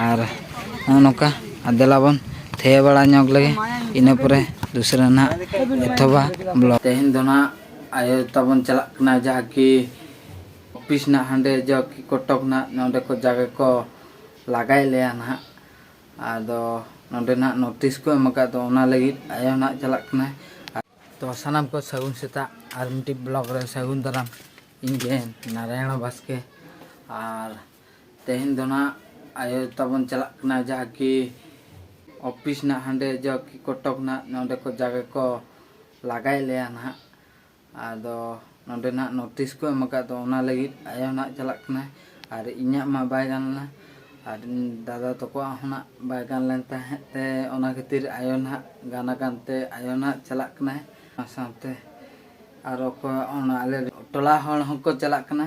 ᱟᱨ ᱱᱚᱜᱼᱚ ᱱᱚᱝᱠᱟ ᱟᱨ ᱫᱮᱞᱟ ᱵᱚᱱ ᱛᱷᱟᱭᱳ ᱵᱟᱲᱟ ᱧᱚᱜᱽ ᱞᱮᱜᱮ ᱤᱱᱟᱹ ᱯᱚᱨᱮ ᱫᱩᱥᱨᱟᱹ ᱱᱟᱦᱟᱜ ᱮᱛᱚᱦᱚᱵᱟ ᱵᱞᱚᱜᱽ ᱛᱮᱦᱮᱧ ᱫᱚ ᱱᱟᱦᱟᱜ ᱟᱭᱳ ᱛᱟᱵᱚᱱ ᱪᱟᱞᱟᱜ ᱠᱟᱱᱟ ᱡᱟᱦᱟᱸ ᱠᱤ ᱚᱯᱷᱤᱥ ᱱᱟᱦᱟᱜ ᱦᱟᱸᱰᱮ ᱡᱟ ᱠᱤ ᱠᱚᱴᱚᱠ ᱱᱟᱦᱟᱜ ᱱᱚᱸᱰᱮ ᱠᱚ ᱡᱟᱜᱮ ᱠᱚ ᱞᱟᱜᱟᱭᱮᱫ ᱞᱮᱭᱟ ᱱᱟᱦᱟᱜ ᱟᱫᱚ ᱱᱚᱸᱰᱮ ᱱᱟᱦᱟᱜ ᱱᱳᱴᱤᱥ ᱠᱚ ᱮᱢ ᱟᱠᱟᱫ ᱫᱚ ᱚᱱᱟ ᱞᱟᱹᱜᱤᱫ ᱟᱭᱳ ᱱᱟᱦᱟᱜ ᱪᱟᱞᱟᱜ ᱠᱟᱱᱟᱭ ᱛᱚ ᱥᱟᱱᱟᱢ ᱠᱚ ᱥᱟᱹᱜᱩᱱ ᱥᱮᱛᱟᱜ ᱟᱨ ᱢᱤᱫᱴᱤᱡ ᱵᱞᱚᱜᱽ ᱨᱮ ᱥᱟᱹᱜᱩᱱ ᱫᱟᱨᱟᱢ ᱤᱧ ᱜᱮ ᱱᱟᱨᱟᱭᱚᱬ ᱵᱟᱥᱠᱮ ᱟᱨ ᱛᱮᱦᱮᱧ ᱫᱚ ᱱᱟᱜ ᱟᱭᱳ ᱛᱟᱵᱚᱱ ᱪᱟᱞᱟᱜ ᱠᱟᱱᱟ ᱡᱟᱦᱟᱸ ᱠᱤ ᱚᱯᱷᱤᱥ ᱱᱟᱜ ᱦᱟᱸᱰᱮ ᱡᱟ ᱠᱤ ᱠᱚᱴᱚᱠ ᱱᱟᱜ ᱱᱚᱸᱰᱮ ᱠᱚ ᱡᱟᱜᱮ ᱠᱚ ᱞᱟᱜᱟᱭᱮᱫ ᱞᱮᱭᱟ ᱱᱟᱜ ᱟᱫᱚ ᱱᱚᱸᱰᱮ ᱱᱟᱜ ᱱᱳᱴᱤᱥ ᱠᱚ ᱮᱢ ᱟᱠᱟᱫ ᱫᱚ ᱚᱱᱟ ᱞᱟᱹᱜᱤᱫ ᱟᱭᱳ ᱱᱟᱜ ᱪᱟᱞᱟᱜ ᱠᱟᱱᱟᱭ ᱟᱨ ᱤᱧᱟᱹᱜ ᱢᱟ ᱵᱟᱭ ᱜᱟᱱ ᱞᱮᱱᱟ ᱟᱨ ᱫᱟᱫᱟ ᱛᱟᱠᱚᱣᱟᱜ ᱦᱚᱸ ᱱᱟᱜ ᱵᱟᱭ ᱜᱟᱱ ᱞᱮᱱ ᱛᱟᱦᱮᱸᱫ ᱛᱮ ᱚᱱᱟ ᱠᱷᱟᱹᱛᱤᱨ ᱟᱭᱳ ᱱᱟᱜ ᱜᱟᱱ ᱟᱠᱟᱱ ᱛᱮ ᱟᱭᱳ ᱱᱟᱜ ᱪᱟᱞᱟᱜ ᱠᱟᱱᱟᱭ ᱚᱱᱟ ᱥᱟᱶᱛᱮ ᱟᱨ ᱚᱠᱚᱭ ᱚᱱᱟ ᱟᱞᱮ ᱴᱚᱞᱟ ᱦᱚᱲ ᱦᱚᱸᱠᱚ ᱪᱟᱞᱟᱜ ᱠᱟᱱᱟ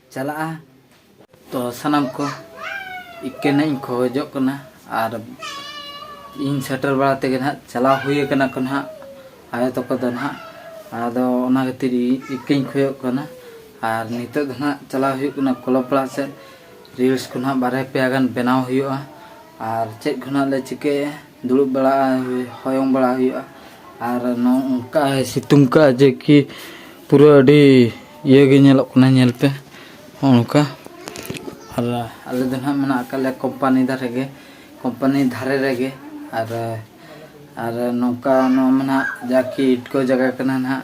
ᱪᱟᱞᱟᱜᱼᱟ ᱛᱚ ᱥᱟᱱᱟᱢ ᱠᱚ ᱤᱠᱟᱹᱱᱟᱜ ᱤᱧ ᱠᱷᱚᱡᱚᱜ ᱠᱟᱱᱟ ᱟᱨ ᱤᱧ ᱥᱮᱴᱮᱨ ᱵᱟᱲᱟ ᱛᱮᱜᱮ ᱱᱟᱦᱟᱜ ᱪᱟᱞᱟᱣ ᱦᱩᱭ ᱟᱠᱟᱱᱟ ᱠᱚ ᱱᱟᱦᱟᱜ ᱟᱭᱳ ᱛᱟᱠᱚ ᱫᱚ ᱱᱟᱦᱟᱜ ᱟᱫᱚ ᱚᱱᱟ ᱠᱷᱟᱹᱛᱤᱨ ᱤᱠᱟᱹᱧ ᱠᱷᱚᱡᱚᱜ ᱠᱟᱱᱟ ᱟᱨ ᱱᱤᱛᱚᱜ ᱫᱚ ᱱᱟᱦᱟᱜ ᱪᱟᱞᱟᱣ ᱦᱩᱭᱩᱜ ᱠᱟᱱᱟ ᱠᱞᱟᱵᱽ ᱯᱟᱲᱟ ᱥᱮᱫ ᱨᱤᱞᱥ ᱠᱚ ᱱᱟᱦᱟᱜ ᱵᱟᱨᱭᱟ ᱯᱮᱭᱟ ᱜᱟᱱ ᱵᱮᱱᱟᱣ ᱦᱩᱭᱩᱜᱼᱟ ᱟᱨ ᱪᱮᱫ ᱠᱚ ᱱᱟᱦᱟᱜ ᱞᱮ ᱪᱤᱠᱟᱹᱭᱟ ᱫᱩᱲᱩᱵ ᱵᱟᱲᱟᱜᱼᱟ ᱦᱚᱭᱚᱝ ᱵᱟᱲᱟ ᱦᱩᱭᱩᱜᱼᱟ ᱟᱨ ᱱᱚᱝᱠᱟ ᱥᱤᱛᱩᱝ ᱠᱟᱜᱼᱟ ᱡᱮ ᱠᱤ ᱯᱩᱨᱟᱹ ᱟᱹᱰᱤ ᱤᱭᱟᱹ ᱜᱮ ᱧᱮᱞᱚᱜ ᱠᱟᱱᱟ ᱧᱮᱞ ᱯᱮ ᱱᱚᱜᱼᱚ ᱱᱚᱝᱠᱟ ᱟᱨ ᱟᱞᱮ ᱫᱚ ᱦᱟᱸᱜ ᱢᱮᱱᱟᱜ ᱟᱠᱟᱫ ᱞᱮᱭᱟ ᱠᱳᱢᱯᱟᱱᱤ ᱫᱷᱟᱨᱮ ᱜᱮ ᱠᱳᱢᱯᱟᱱᱤ ᱫᱷᱟᱨᱮ ᱨᱮᱜᱮ ᱟᱨ ᱟᱨ ᱱᱚᱝᱠᱟ ᱱᱚᱣᱟ ᱢᱟ ᱦᱟᱸᱜ ᱡᱟ ᱠᱤ ᱤᱴᱠᱳ ᱡᱟᱭᱜᱟ ᱠᱟᱱᱟ ᱦᱟᱸᱜ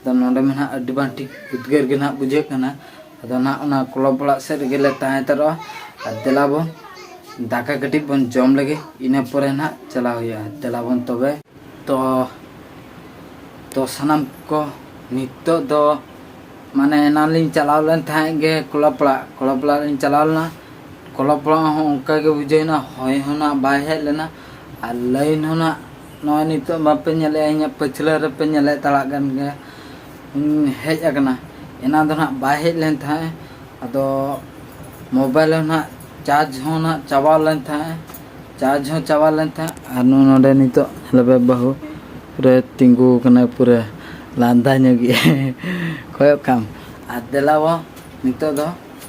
ᱟᱫᱚ ᱱᱚᱰᱮ ᱢᱟ ᱱᱟᱦᱟᱜ ᱟᱹᱰᱤ ᱵᱟᱝ ᱴᱷᱤᱠ ᱩᱫᱽᱜᱟᱹᱨ ᱜᱮ ᱱᱟᱦᱟᱜ ᱵᱩᱡᱷᱟᱹᱜ ᱠᱟᱱᱟ ᱟᱫᱚ ᱱᱟᱦᱟᱜ ᱚᱱᱟ ᱠᱞᱚᱵᱽ ᱚᱲᱟᱜ ᱥᱮᱫ ᱨᱮᱜᱮ ᱞᱮ ᱛᱟᱦᱮᱸ ᱦᱟᱛᱟᱲᱚᱜᱼᱟ ᱟᱨ ᱫᱮᱞᱟ ᱵᱚᱱ ᱫᱟᱠᱟ ᱠᱟᱹᱴᱤᱡ ᱵᱚᱱ ᱡᱚᱢ ᱞᱮᱜᱮ ᱤᱱᱟᱹ ᱯᱚᱨᱮ ᱱᱟᱦᱟᱜ ᱪᱟᱞᱟᱣ ᱦᱩᱭᱩᱜᱼᱟ ᱫᱮᱞᱟ ᱵᱚᱱ ᱛᱚᱵᱮ ᱛᱚ ᱛᱚ ᱥᱟᱱᱟᱢ ᱠᱚ ᱱᱤᱛᱚᱜ ᱫᱚ ᱢᱟᱱᱮ ᱮᱱᱟᱱ ᱞᱤᱧ ᱪᱟᱞᱟᱣ ᱞᱮᱱ ᱛᱟᱦᱮᱸᱫ ᱜᱮ ᱠᱞᱚᱵᱽ ᱚᱲᱟᱜ ᱠᱞᱚᱵᱽ ᱚᱲᱟᱜ ᱞᱤᱧ ᱪᱟᱞᱟᱣ ᱞᱮᱱᱟ ᱠᱞᱚᱵᱽ ᱚᱲᱟᱜ ᱦᱚᱸ ᱚᱱᱠᱟ ᱜᱮ ᱵᱩᱡᱷᱟᱹᱣᱮᱱᱟ ᱦᱚᱭ ᱦᱚᱸ ᱱᱟᱦᱟᱜ ᱵᱟᱭ ᱦᱮᱡ ᱞᱮᱱᱟ ᱟᱨ ᱞᱟᱹᱭᱤᱱ ᱦᱚᱸ ᱱᱟᱦᱟᱜ ᱱᱚᱜᱼᱚᱭ ᱱᱤᱛᱚᱜ ᱵᱟᱯᱮ ᱧᱮᱞᱮᱜᱼᱟ ᱤᱧᱟᱹᱜ ᱯᱟᱹᱪᱷᱞᱟᱹ ᱨᱮᱯᱮ ᱧᱮᱞᱮᱫ ᱛᱟᱲᱟᱜ ᱠᱟᱱ ᱜᱮᱭᱟ ᱦᱮᱡ ᱟᱠᱟᱱᱟ ᱮᱱᱟᱱ ᱫᱚ ᱱᱟᱦᱟᱜ ᱵᱟᱭ ᱦᱮᱡ ᱞᱮᱱ ᱛᱟᱦᱮᱸᱫ ᱟᱫᱚ ᱢᱳᱵᱟᱭᱤᱞ ᱦᱚᱸ ᱱᱟᱦᱟᱜ ᱪᱟᱨᱡᱽ ᱦᱚᱸ ᱱᱟᱦᱟᱜ ᱪᱟᱵᱟ ᱞᱮᱱ ᱛᱟᱦᱮᱸᱫ ᱪᱟᱨᱡᱽ ᱦᱚᱸ ᱪᱟᱵᱟ ᱞᱮᱱ ᱛᱟᱦᱮᱸᱫ ᱟᱨ ᱱᱩᱭ ᱱᱚᱰᱮ ᱱᱤᱛᱚᱜ ᱞᱮᱵᱮᱫ ᱵᱟᱹᱦᱩ ᱯᱩᱨᱟᱹ ᱛᱤᱸᱜᱩ ᱟᱠᱟᱱᱟᱭ ᱯᱩᱨᱟᱹ ᱞᱟᱸᱫᱟ ᱧᱚᱜᱮᱜᱼᱟᱭ ᱠᱚᱭᱚᱜ ᱠᱟᱜ ᱟᱢ ᱟᱨ ᱫᱮᱞᱟᱵᱚ ᱱᱤᱛᱚᱜ ᱫᱚ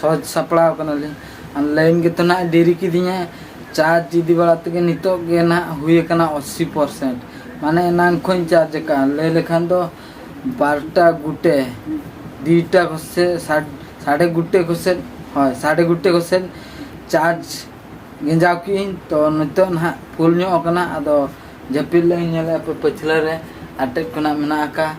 ᱥᱚᱡᱽ ᱥᱟᱯᱲᱟᱣ ᱠᱟᱱᱟᱞᱤᱧ ᱟᱨ ᱞᱟᱭᱤᱱ ᱜᱮᱛᱚ ᱱᱟᱦᱟᱜ ᱰᱮᱨᱤ ᱠᱤᱫᱤᱧᱟ ᱪᱟᱨᱡᱽ ᱤᱫᱤ ᱵᱟᱲᱟ ᱛᱮᱜᱮ ᱱᱤᱛᱚᱜ ᱜᱮ ᱱᱟᱦᱟᱜ ᱦᱩᱭ ᱟᱠᱟᱱᱟ ᱟᱥᱤ ᱯᱟᱨᱥᱮᱱᱴ ᱢᱟᱱᱮ ᱮᱱᱟᱝ ᱠᱷᱚᱱ ᱪᱟᱨᱡᱽ ᱟᱠᱟᱫᱼᱟ ᱞᱟᱹᱭ ᱞᱮᱠᱷᱟᱱ ᱫᱚ ᱵᱟᱨᱚᱴᱟ ᱜᱚᱴᱮ ᱫᱩᱭᱴᱟ ᱠᱚᱥᱮ ᱥᱟᱲᱮ ᱜᱚᱴᱮ ᱠᱚᱥᱮ ᱦᱳᱭ ᱥᱟᱲᱮ ᱜᱚᱴᱮ ᱠᱚᱥᱮ ᱪᱟᱨᱡᱽ ᱜᱮᱸᱡᱟᱣ ᱠᱮᱫᱟᱹᱧ ᱛᱚ ᱱᱤᱛᱚᱜ ᱱᱟᱦᱟᱜ ᱯᱷᱩᱞ ᱧᱚᱜ ᱟᱠᱟᱱᱟ ᱟᱫᱚ ᱡᱟᱹᱯᱤᱫ ᱞᱟᱹᱜᱤᱫ ᱤᱧ ᱧᱮᱞᱮᱫᱼᱟ ᱯᱟᱹᱪᱷᱞᱟᱹ ᱨᱮ ᱟᱴᱮᱫ ᱠᱷᱚᱱᱟᱜ ᱢᱮᱱᱟᱜ ᱟᱠᱟᱫᱼᱟ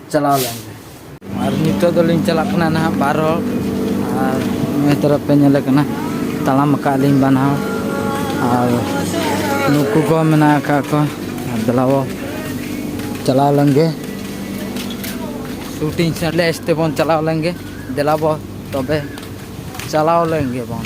ᱪᱟᱞᱟᱣ ᱞᱮᱱ ᱜᱮ ᱟᱨ ᱱᱤᱛᱚᱜ ᱫᱚᱞᱤᱧ ᱪᱟᱞᱟᱜ ᱠᱟᱱᱟ ᱱᱟᱦᱟᱜ ᱵᱟᱨ ᱦᱚᱲ ᱟᱨ ᱱᱤᱭᱟᱹ ᱛᱚᱨᱚᱯ ᱯᱮ ᱧᱮᱞᱮ ᱠᱟᱱᱟ ᱛᱟᱲᱟᱢ ᱟᱠᱟᱫ ᱞᱤᱧ ᱵᱟᱱᱟ ᱦᱚᱲ ᱟᱨ ᱱᱩᱠᱩ ᱠᱚ ᱢᱮᱱᱟᱜ ᱟᱠᱟᱫ ᱠᱚ ᱫᱮᱞᱟ ᱵᱚ ᱪᱟᱞᱟᱣ ᱞᱮᱱ ᱜᱮ ᱥᱩᱴᱤᱝ ᱥᱮᱞᱮᱥ ᱛᱮᱵᱚᱱ ᱪᱟᱞᱟᱣ ᱞᱮᱱ ᱜᱮ ᱫᱮᱞᱟ ᱵᱚ ᱛᱚᱵᱮ ᱪᱟᱞᱟᱣ ᱞᱮᱱ ᱜᱮ ᱵᱚᱱ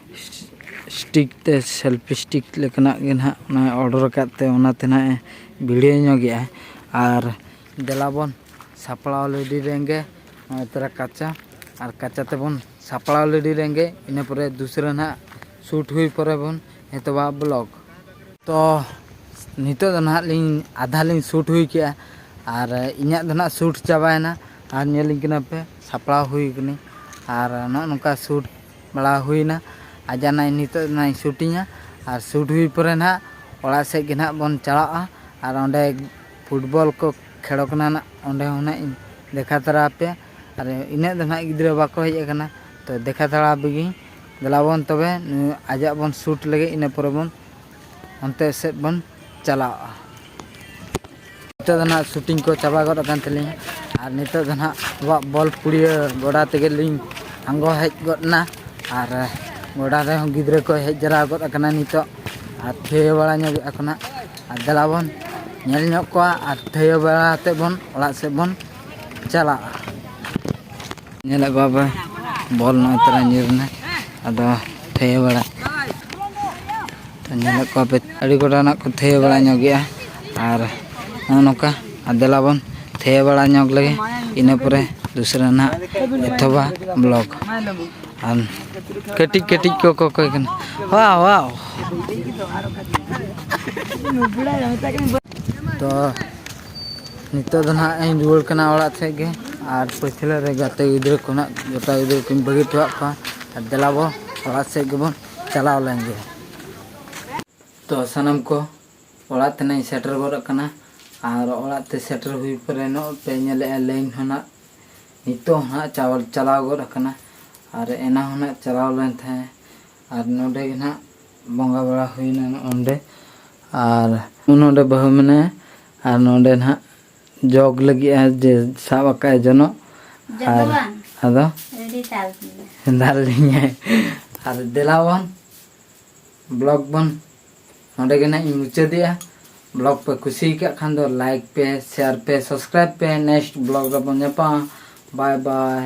ᱥᱴᱤᱠ ᱛᱮ ᱥᱮᱞᱯᱷᱤ ᱥᱴᱤᱠ ᱞᱮᱠᱟᱱᱟᱜ ᱜᱮ ᱱᱟᱦᱟᱜ ᱚᱱᱟ ᱚᱰᱟᱨ ᱟᱠᱟᱫ ᱛᱮ ᱚᱱᱟᱛᱮ ᱱᱟᱦᱟᱜ ᱮ ᱵᱷᱤᱲᱟᱹᱣ ᱧᱚᱜ ᱮᱫᱟᱭ ᱟᱨ ᱫᱮᱞᱟ ᱵᱚᱱ ᱥᱟᱯᱲᱟᱣ ᱨᱮᱰᱤ ᱞᱮᱱᱜᱮ ᱱᱚᱜᱼᱚᱭ ᱛᱚᱨᱟ ᱠᱟᱪᱟ ᱟᱨ ᱠᱟᱪᱟ ᱛᱮᱵᱚᱱ ᱥᱟᱯᱲᱟᱣ ᱨᱮᱰᱤ ᱞᱮᱱᱜᱮ ᱤᱱᱟᱹ ᱯᱚᱨᱮ ᱫᱚᱥᱨᱟ ᱱᱟᱦᱟᱜ ᱥᱩᱴ ᱦᱩᱭ ᱯᱚᱨᱮ ᱵᱚᱱ ᱮᱛᱚᱦᱚᱵᱟ ᱵᱞᱚᱜᱽ ᱛᱚ ᱱᱤᱛᱚᱜ ᱫᱚ ᱱᱟᱦᱟᱜ ᱞᱤᱧ ᱟᱫᱷᱟ ᱞᱤᱧ ᱥᱩᱴ ᱦᱩᱭ ᱠᱮᱫᱼᱟ ᱟᱨ ᱤᱧᱟᱹᱜ ᱫᱚ ᱱᱟᱦᱟᱜ ᱥᱩᱴ ᱪᱟᱵᱟᱭᱮᱱᱟ ᱟᱨ ᱧᱮᱞ ᱟᱹᱧ ᱠᱟᱱᱟ ᱯᱮ ᱥᱟᱯᱲᱟᱣ ᱦᱩᱭ ᱠᱟᱹᱱᱟᱹᱧ ᱟᱨ ᱱᱚᱜᱼᱚ ᱱᱚᱝᱠᱟ ᱥᱩᱴ ᱵᱟᱲᱟ ᱦᱩᱭᱱᱟ ᱟᱨ ᱡᱟᱦᱟᱱᱟᱜ ᱱᱤᱛᱚᱜ ᱱᱟᱦᱟᱜ ᱥᱩᱴᱤᱝᱟ ᱟᱨ ᱥᱩᱴ ᱦᱩᱭ ᱯᱚᱨᱮ ᱱᱟᱦᱟᱜ ᱚᱲᱟᱜ ᱥᱮᱫ ᱜᱮ ᱱᱟᱦᱟᱜ ᱵᱚᱱ ᱪᱟᱞᱟᱜᱼᱟ ᱟᱨ ᱚᱸᱰᱮ ᱯᱷᱩᱴᱵᱚᱞ ᱠᱚ ᱠᱷᱮᱞᱚᱜ ᱠᱟᱱᱟ ᱱᱟᱦᱟᱜ ᱚᱸᱰᱮ ᱦᱚᱸ ᱱᱟᱦᱟᱜ ᱤᱧ ᱫᱮᱠᱷᱟᱣ ᱛᱟᱨᱟ ᱟᱯᱮᱭᱟ ᱟᱨ ᱤᱱᱟᱹᱜ ᱫᱚ ᱱᱟᱦᱟᱜ ᱜᱤᱫᱽᱨᱟᱹ ᱵᱟᱠᱚ ᱦᱮᱡ ᱠᱟᱱᱟ ᱛᱳ ᱫᱮᱠᱷᱟᱣ ᱛᱟᱨᱟ ᱟᱯᱮ ᱜᱤᱧ ᱫᱮᱞᱟᱵᱚᱱ ᱛᱚᱵᱮ ᱟᱡᱟᱜ ᱵᱚᱱ ᱥᱩᱴ ᱞᱮᱜᱮ ᱤᱱᱟᱹ ᱯᱚᱨᱮ ᱵᱚᱱ ᱚᱱᱛᱮ ᱥᱮᱫ ᱵᱚᱱ ᱪᱟᱞᱟᱣᱚᱜᱼᱟ ᱱᱤᱛᱚᱜ ᱫᱚ ᱱᱟᱦᱟᱜ ᱥᱩᱴᱤᱝ ᱠᱚ ᱪᱟᱵᱟ ᱜᱚᱫ ᱟᱠᱟᱱ ᱛᱟᱹᱞᱤᱧᱟ ᱟᱨ ᱱᱤᱛᱚᱜ ᱫᱚ ᱱᱟᱦᱟᱜ ᱟᱵᱚᱣᱟᱜ ᱵᱚᱞ ᱯᱩᱲᱤᱭᱟᱹ ᱜᱚᱰᱟ ᱛᱮᱜᱮ ᱞᱤᱧ ᱟᱬᱜᱚ ᱦᱮᱡ ᱜᱚᱫ ᱮᱱᱟ ᱟᱨ ᱜᱚᱰᱟ ᱨᱮᱦᱚᱸ ᱜᱤᱫᱽᱨᱟᱹ ᱠᱚ ᱦᱮᱡ ᱡᱟᱣᱨᱟ ᱜᱚᱫ ᱟᱠᱟᱱᱟ ᱱᱤᱛᱚᱜ ᱟᱨ ᱛᱷᱤᱭᱟᱹ ᱵᱟᱲᱟ ᱧᱚᱜᱮᱫ ᱟᱠᱚ ᱱᱟᱦᱟᱜ ᱟᱨ ᱫᱮᱞᱟ ᱵᱚᱱ ᱧᱮᱞ ᱧᱚᱜ ᱠᱚᱣᱟ ᱟᱨ ᱛᱷᱤᱭᱟᱹ ᱵᱟᱲᱟ ᱠᱟᱛᱮᱫ ᱵᱚᱱ ᱚᱲᱟᱜ ᱥᱮᱫ ᱵᱚᱱ ᱪᱟᱞᱟᱜ ᱧᱮᱞᱮᱫ ᱠᱚᱣᱟ ᱯᱮ ᱵᱚᱞ ᱱᱚᱜᱼᱚᱭ ᱛᱚᱨᱟ ᱧᱤᱨ ᱮᱱᱟ ᱟᱫᱚ ᱛᱷᱟᱹᱭᱟᱹ ᱵᱟᱲᱟ ᱧᱮᱞᱮᱫ ᱠᱚᱣᱟ ᱯᱮ ᱟᱹᱰᱤ ᱜᱚᱴᱟ ᱱᱟᱜ ᱠᱚ ᱛᱷᱟᱹᱭᱟᱹ ᱵᱟᱲᱟ ᱧᱚᱜᱮᱜᱼᱟ ᱟᱨ ᱱᱚᱜᱼᱚ ᱱᱚᱝᱠᱟ ᱟᱨ ᱫᱮᱞᱟ ᱵᱚᱱ ᱛᱷᱟᱹᱭᱟᱹ ᱵᱟᱲᱟ ᱧᱚᱜ ᱞᱮᱜᱮ ᱤᱱᱟᱹ ᱯᱚᱨᱮ ᱫᱩᱥᱨᱟ ᱱᱟᱜ ᱮᱛᱚᱦᱚᱵᱟ ᱵᱞᱚᱜᱽ ᱟᱨ ᱠᱟᱹᱴᱤᱡ ᱠᱟᱹᱴᱤᱡ ᱠᱚ ᱠᱚᱠᱚᱭ ᱠᱟᱱᱟ ᱣᱟᱣ ᱣᱟᱣ ᱛᱚ ᱱᱤᱛᱚᱜ ᱫᱚ ᱱᱟᱦᱟᱜ ᱤᱧ ᱨᱩᱣᱟᱹᱲ ᱠᱟᱱᱟ ᱚᱲᱟᱜ ᱥᱮᱫ ᱜᱮ ᱟᱨ ᱯᱟᱹᱪᱷᱞᱟᱹ ᱨᱮ ᱜᱟᱛᱮ ᱜᱤᱫᱽᱨᱟᱹ ᱠᱚ ᱱᱟᱦᱟᱜ ᱜᱟᱛᱮ ᱜᱤᱫᱽᱨᱟᱹ ᱠᱚᱧ ᱵᱟᱹᱜᱤ ᱦᱚᱴᱚᱣᱟᱜ ᱠᱚᱣᱟ ᱟᱨ ᱫᱮᱞᱟ ᱵᱚ ᱚᱲᱟᱜ ᱥᱮᱫ ᱜᱮᱵᱚᱱ ᱪᱟᱞᱟᱣ ᱞᱮᱱ ᱜᱮ ᱛᱚ ᱥᱟᱱᱟᱢ ᱠᱚ ᱚᱲᱟᱜ ᱛᱮᱱᱟᱜ ᱤᱧ ᱥᱮᱴᱮᱨ ᱜᱚᱫ ᱟᱠᱟᱱᱟ ᱟᱨ ᱚᱲᱟᱜ ᱛᱮ ᱥᱮᱴᱮᱨ ᱦᱩᱭ ᱯᱚᱨᱮ ᱱᱚᱜᱼᱚᱭ ᱯᱮ ᱧᱮᱞᱮᱫᱼᱟ ᱞᱟᱹᱭᱤᱱ ᱦᱚᱸ ᱱᱟᱦᱟᱜ ᱱᱤᱛᱚᱜ ᱦᱚᱸ ᱱᱟᱦᱟᱜ ᱪᱟᱞᱟᱣ ᱜᱚᱫ ᱟᱠᱟᱱᱟ ᱟᱨ ᱮᱱᱟᱝ ᱦᱚᱸ ᱱᱟᱦᱟᱜ ᱪᱟᱞᱟᱣ ᱞᱮᱱ ᱛᱟᱦᱮᱸᱫ ᱟᱨ ᱱᱚᱰᱮ ᱜᱮ ᱱᱟᱦᱟᱜ ᱵᱚᱸᱜᱟ ᱵᱟᱲᱟ ᱦᱩᱭᱱᱟ ᱱᱚᱜᱼᱚᱸᱰᱮ ᱟᱨ ᱱᱚᱰᱮ ᱵᱟᱹᱦᱩ ᱢᱮᱱᱟᱭᱟ ᱟᱨ ᱱᱚᱰᱮ ᱱᱟᱦᱟᱜ ᱡᱚᱜᱽ ᱞᱟᱹᱜᱤᱫ ᱟᱭ ᱡᱮ ᱥᱟᱵ ᱟᱠᱟᱫ ᱟᱭ ᱡᱚᱱᱚᱜ ᱟᱨ ᱟᱫᱚ ᱫᱟᱞ ᱞᱤᱧᱟᱭ ᱟᱨ ᱫᱮᱞᱟ ᱵᱚᱱ ᱵᱞᱚᱜᱽ ᱵᱚᱱ ᱱᱚᱰᱮ ᱜᱮ ᱱᱟᱦᱟᱜ ᱤᱧ ᱢᱩᱪᱟᱹᱫᱮᱜᱼᱟ ᱵᱞᱚᱜᱽ ᱯᱮ ᱠᱩᱥᱤ ᱟᱠᱟᱫ ᱠᱷᱟᱱ ᱫᱚ ᱞᱟᱭᱤᱠ ᱯᱮ ᱥᱮᱭᱟᱨ ᱯᱮ ᱥᱟᱵᱥᱠᱨᱟᱭᱤᱵᱽ ᱯᱮ ᱱᱮᱠᱥᱴ ᱵᱞᱚᱜᱽ ᱨᱮᱵᱚᱱ ᱧᱟᱯᱟᱢᱟ ᱵᱟᱭ ᱵᱟᱭ